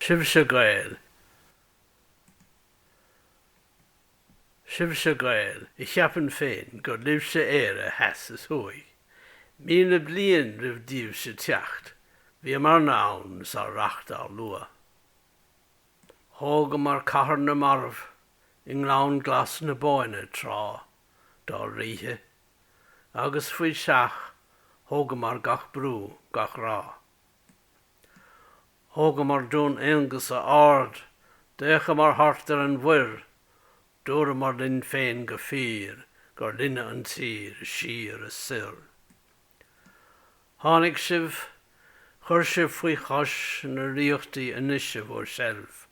Sibhse Gaeil! Sibhse Gaeil a cheapann féin gur libhse Éire theas is thuaidh. Míle bliain roimh daoibhse teacht, bhíomarna ann is ár reacht á lua. Thógamar cathair na marbh i ngleann glas na Bóinne tráth dár ríthe, agus faoi seach, thógamar gach brú, gach ráth. Thógamar Dún Aonghasa ard, d'fhéachamar thart ar an mhuir, dúramar linn féin go fíor gur linne an tír, siar is soir. Tháinig sibh, chuir sibh faoi chois na ríochtaí anois i bhur seilbh,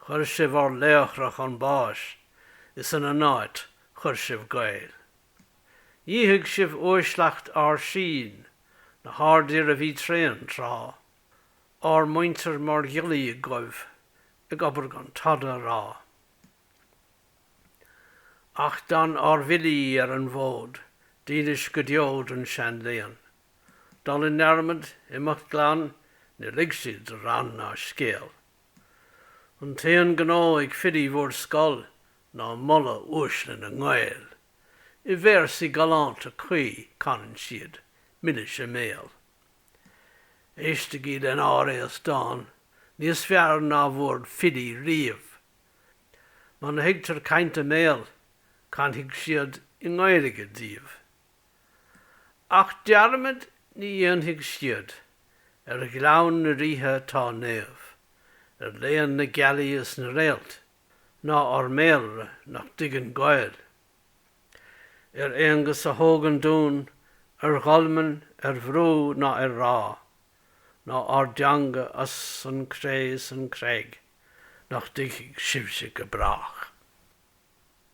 chuir sibh ár laochra chun báis, is ina n-áit chuir sibh Gaeil. Dhíothaigh sibh uaisleacht ár sín, na hardfhir a bhí tréan tráth, ár muintir mar ghiollaí agaibh ag obair gan tada a rá. Ach d'fhan ár bhfilí ar an bhfód, dílis go deo don seanléann. Dul i ndearmad, imeacht glan, níor lig siad rann ná scéal. An t-aon gnó ag filí bhur scoil ná moladh uaisle na nGael, I véarsaí galánta cuí canann siad milis a mbéal. Éistigí len ár aos dáin níos fearr ná bhur filí riamh. Muna thuigtear caint a mbéal canfaidh siad i nGaeilge daoibh. Ach dearmad ní dhéanfaidh siad ar Ghleann na Ríthe atá naomh, ar léann na gealaí is na réalt, ná ár mBéalra nach dtuigeann Gaeil. Ar Aonghus a thóg an dún, ar dholmain, ar bhrú ná ar ráth, ná ár dteanga as an gcré is an chreig nach dtuigfidh sibhse go brách.